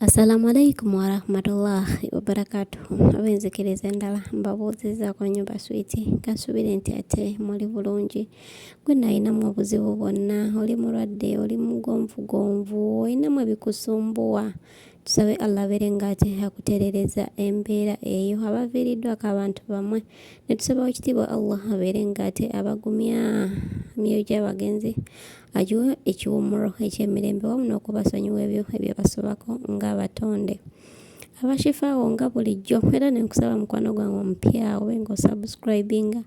Assalamu alaikum warahmatullahi wabarakatuhu abenzikiriza endala mbabuuzizaako nyumba switi kansubire nti ate muli bulungi gwe nalinamu obuzibu bwonna oli mulwadde oli mugonvugonvu olinamu ebikusumbuwa tusabe allah abeere nga ate akutereereza embeera eyo abaviiriddwako abantu bamwe ne tusaba wakitiibwa allah abeere nga ate abagumya myoyo gy'abagenzi agiwe ekiwummulo eky'emirembe wamu n'okubasonyiwa ebyo ebyabasobako ng'abatonde abashifaawo nga bulijjo era nenkusaba mukwano gwange omupya obe nga osubscribinga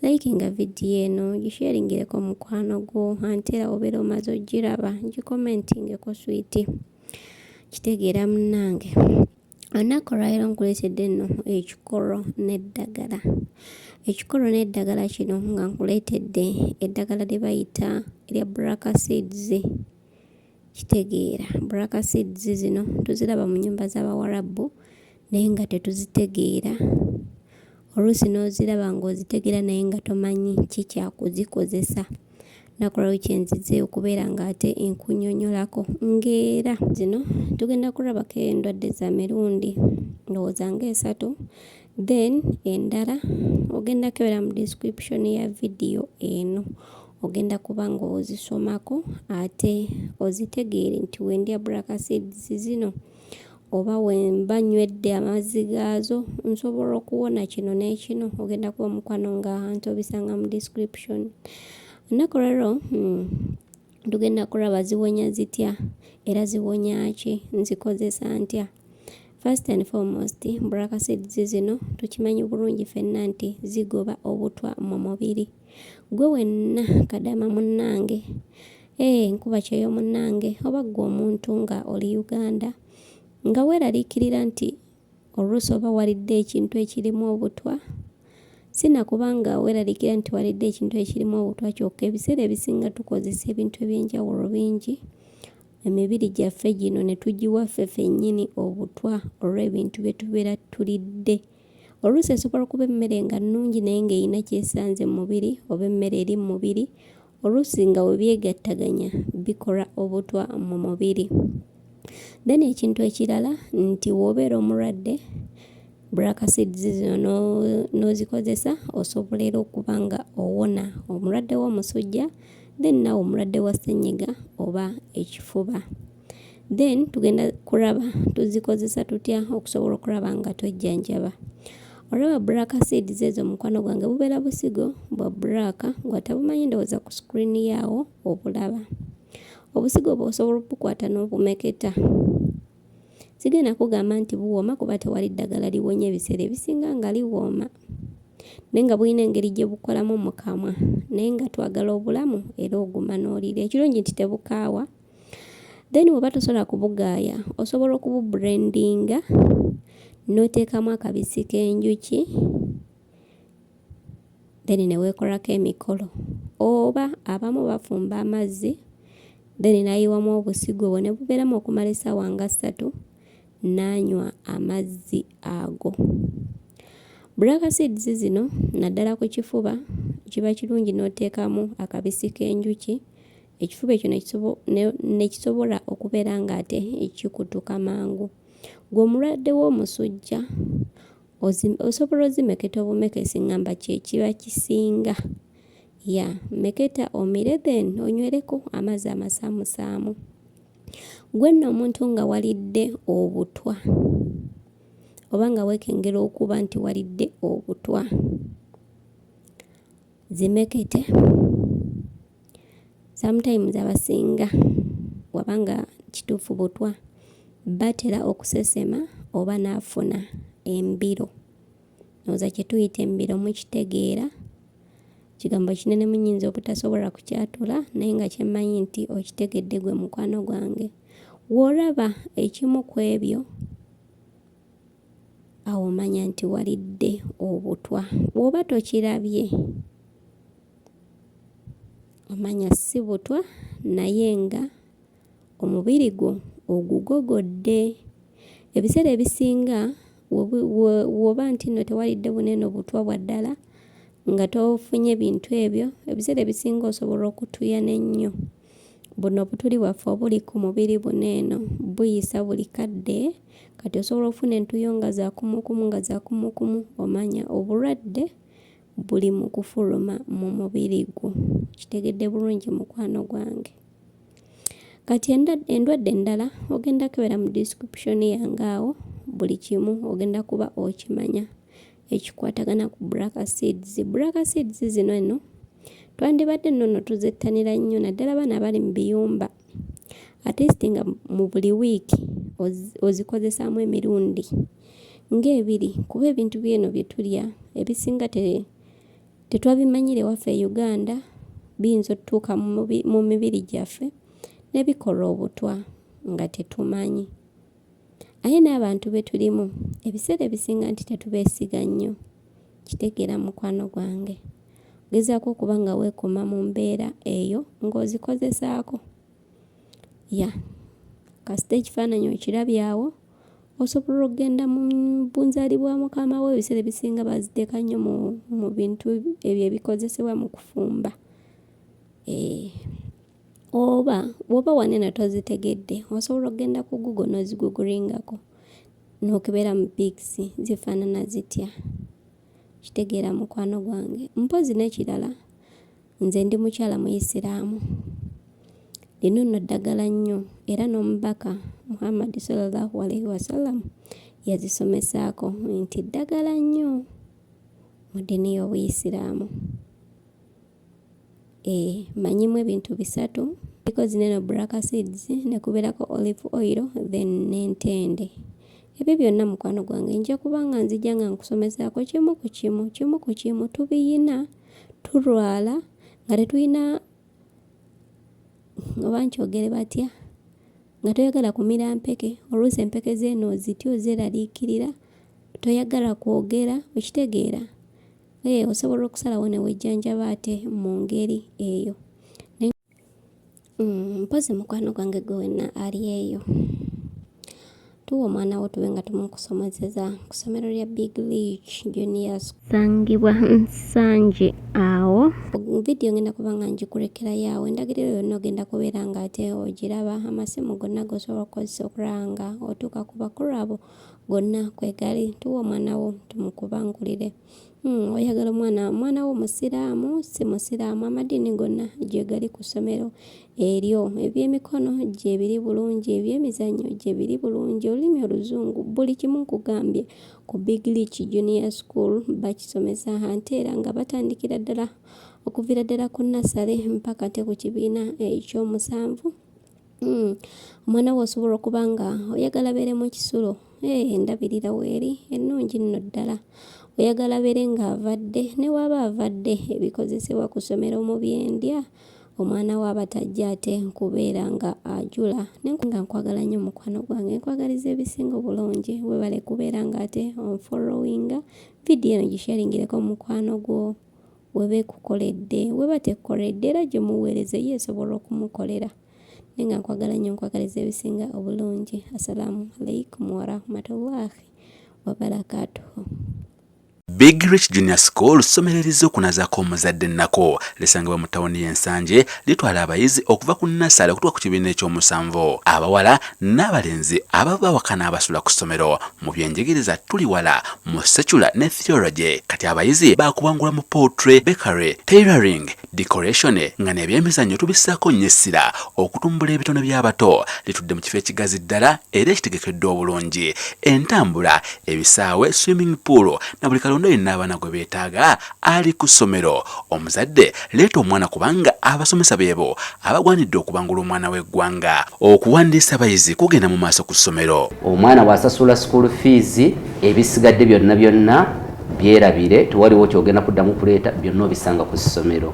likinga vidiyo eno gisheringireko mukwano gwo ante era obeera omaze ogiraba gikomentingeko switi kitegeera munnange olunaku olwaliro nkuleetedde nno ekikolo n'eddagala ekikolo n'eddagala kino nga nkuleetedde eddagala lye bayita erya braka seeds kitegeera braka seeds zino tuziraba mu nyumba z'abawarabu naye nga tetuzitegeera oluusi n'oziraba ng'ozitegeera naye nga tomanyi ki kyakuzikozesa nakulawo kyenzize okubeera nga ate enkunyonyolako ngaera zino tugenda kulabako endwadde za mirundi ndowooza nga esatu then endala ogenda kebera mu description ya vidiyo eno ogenda kuba nga ozisomako ate ozitegeere nti wendya brakaseeds zino oba wemba nywedde amazzi gaazo nsobola okuwona kino n'ekino ogenda kuba omukwano nga ntobisanga mu description ennaku leero hmm, tugenda kulaba ziwonya zitya era ziwonya ki nzikozesa ntya first and foremost braka seeds zino tukimanyi bulungi fenna nti zigoba obutwa mu mubiri Gwe wenna kadama munnange. Ee eh, nkuba kyeyo munnange oba gwe omuntu nga oli Uganda nga weeraliikirira nti oluusi oba walidde ekintu ekirimu obutwa si na kubanga weeraliikirira nti walidde ekintu ekirimu obutwa kyokka ebiseera ebisinga tukozesa ebintu eby'enjawulo bingi emibiri gyaffe gino ne tugiwa ffe fennyini obutwa olw'ebintu bye tubeera tulidde. Oluusi esobola okuba emmere nga nnungi naye ng'erina ky'esanze mu mubiri oba emmere eri mu mubiri, oluusi nga we byegattaganya bikola obutwa mu mubiri. Then ekintu ekirala nti w'obeera omulwadde black seeds zino n'ozikozesa osobola era okuba nga owona omulwadde w'omusujja then nawe omulwadde wa ssennyiga oba ekifuba. then tugenda kuraba tuzikozesa tutya okusobola okuraba nga twejjanjaba olaba black seeds ezo mukwano gwange bubeera busigo bwa black ngwatabumanyi ndowooza ku screen yaawo obulaba obusigo obwo osobola obukwata n'obumeketa sigenda kugamba nti buwooma kuba tewali ddagala liwonya ebiseera ebisinga nga liwooma naye nga bulina engeri gye bukolamu mu kamwa naye nga twagala obulamu era oguma n'oliira ekirungi nti tebukaawa then woba tosobola kubugaaya osobola okububrendinga n'oteekamu akabisi k'enjuki then neweekolako emikolo oba abamu bafumba amazzi then nayiwamu obusigo obwo ne bubeeramu okumala essaawa nga ssatu n'anywa amazzi ago black seeds zino naddala ku kifuba kiba kirungi n'oteekamu akabisi k'enjuki ekifuba ekyo nekisobola okubeera nga ate kikutuka mangu gwe omulwadde w'omusujja osobola ozimeketa obumekesi ngamba kyekiba kisinga ya meketa omire then onywereko amazzi amasaamusaamu gwe nno omuntu nga walidde obutwa oba nga weekengera okuba nti walidde obutwa zimekete sometimes abasinga wabanga kituufu butwa batera okusesema oba n'afuna embiro oza kye tuyita embiro mukitegeera kigambo kinene munyinza obutasobola kukyatula naye nga kyemmanyi nti okitegedde gwe mukwano gwange w'olaba ekimu ku ebyo awo omanya nti walidde obutwa bw'oba tokirabye omanya si butwa naye nga omubiri gwo ogugogodde ebiseera ebisinga woba nti no tewalidde bunene obutwa bwa ddala nga tofunye bintu ebyo ebiseera ebisinga osobola okutuyana ennyo buno obutuli bwaffe obuli ku mubiri buno eno buyisa buli kadde kati osobola okufuna entuyo nga zakumukumu nga zakumukumu omanya obulwadde buli mu kufuluma mu mubiri gwo kitegedde bulungi mukwano gwange kati endwadde endala ogenda kebera mu description yange awo buli kimu ogenda kuba okimanya ekikwatagana ku braka seeds braka seeds zino eno twandibadde nnono tuzettanira nnyo naddala baana abali mu biyumba atesti nga mu buli wiiki ozikozesaamu emirundi ng'ebiri kuba ebintu byeno bye tulya ebisinga tetwabimanyira ewaffe e uganda biyinza otutuuka mu mibiri gyaffe ne bikola obutwa nga tetumanyi Aye n'abantu be tulimu ebiseera ebisinga nti tetubeesiga nnyo. Kitegeera mukwano gwange. Gezaako okuba nga weekuuma mu mbeera eyo ng'ozikozesaako. Ya kasita ekifaananyi okirabyawo osobola okugenda mu bunzaali bwa mukama wo ebiseera ebisinga baziteeka nnyo mu bintu ebyo ebikozesebwa mu kufumba. Eh. oba woba waneno tozitegedde osobola okugenda ku google noziguguringako nokebera mu pics zifaanana zitya kitegeera mukwano gwange mpozi nekirala nze ndi mukyala muyisiraamu lino nno ddagala nnyo era n'omubaka muhammadi salallahu alaihi wasallam yazisomesaako nti ddagala nnyo mu ddiini y'obuyisiraamu eh, manyimu ebintu bisatu iko zineno black seeds nekuberako olive oil then nentende ebyo byonna mukwano gwange nja kuba nga nzija nga nkusomesaako kimu ku kimu kimu ku kimu tubiyina tulwala nga tetulina oba nkyogere batya nga toyagala kumira mpeke oluusi empeke zeeno ozitya ozeraliikirira toyagala kwogera okitegeera Eh, osobola okusalawo ne wejjanjaba ate mu ngeri eyo mm, mpozi mukwano gwange gwe wenna ali eyo tuwa omwana wo tube nga tumukusomozeza ku ssomero lya big leach junior sangibwa nsanje awo vidiyo ngenda kuba nga ngikurekerayo awo endagiriro yonna ogenda kubeera nga ate ogiraba amasimu gonna gosobola okukozesa okulaba nga otuuka ku bakulu abo gonna kwegali tuwa omwana wo tumukubangulire hmm, oyagala omwana omwana wo musiraamu si musiraamu amadiini gonna gyegali ku ssomero eryo ebyemikono gyebiri bulungi ebyemizannyo gyebiri bulungi olulimi oluzungu buli kimu nkugambye ku big leach junior school bakisomesa ante era nga batandikira ddala okuvira ddala ku nasale mpaka te ku kibiina ekyomusanvu Hmm. omwana we osobola okuba nga oyagala beere mu kisulo ee eh, endabirira weeri ennungi nno ddala oyagala beere ng'avadde ne waaba avadde ebikozesebwa ku ssomero mu byendya omwana we aba tajja ate nkubeera nga ajula naye nga nkwagala nnyo mukwano gwange nkwagaliza ebisinga obulungi webale kubeera ng'ate onfollowinga vidiyo eno gisharingireko mukwano gwo weba ekukoledde weba tekukoledde era gyomuweereza ye esobola okumukolera naye nga nkwagala nnyo nkwagaliza ebisinga obulungi assalamu alaikum warahmatullahi wabarakatuhu Big Rich Junior School ssomero erizze okunazako omuzadde ennako lisangibwa mu tawuni y'ensanje litwala abayizi okuva ku nassale okutuka ku kibiina ekyomusanvu abawala n'abalenzi abava awaka n'abasula ku ssomero mu byenjigiriza tuli wala mu secular ne theology kati abayizi baakubangula mu poultry bakery tailoring decoration nga nebyemizannyo tubissaako nnyo essira okutumbula ebitone by'abato litudde mu kifo ekigazi ddala era ekitegekeddwa obulungi entambula ebisaawe swimming pool na buli kalonda yenna abaana gwe beetaaga ali ku ssomero. Omuzadde leeta omwana kubanga abasomesa beebo abagwanidde okubangula omwana w'eggwanga. Okuwandiisa abayizi kugenda mu maaso ku ssomero. Omwana bw'asasula school fees ebisigadde byonna byonna byerabire tewaliwo kyogenda kuddamu kuleeta byonna obisanga ku ssomero.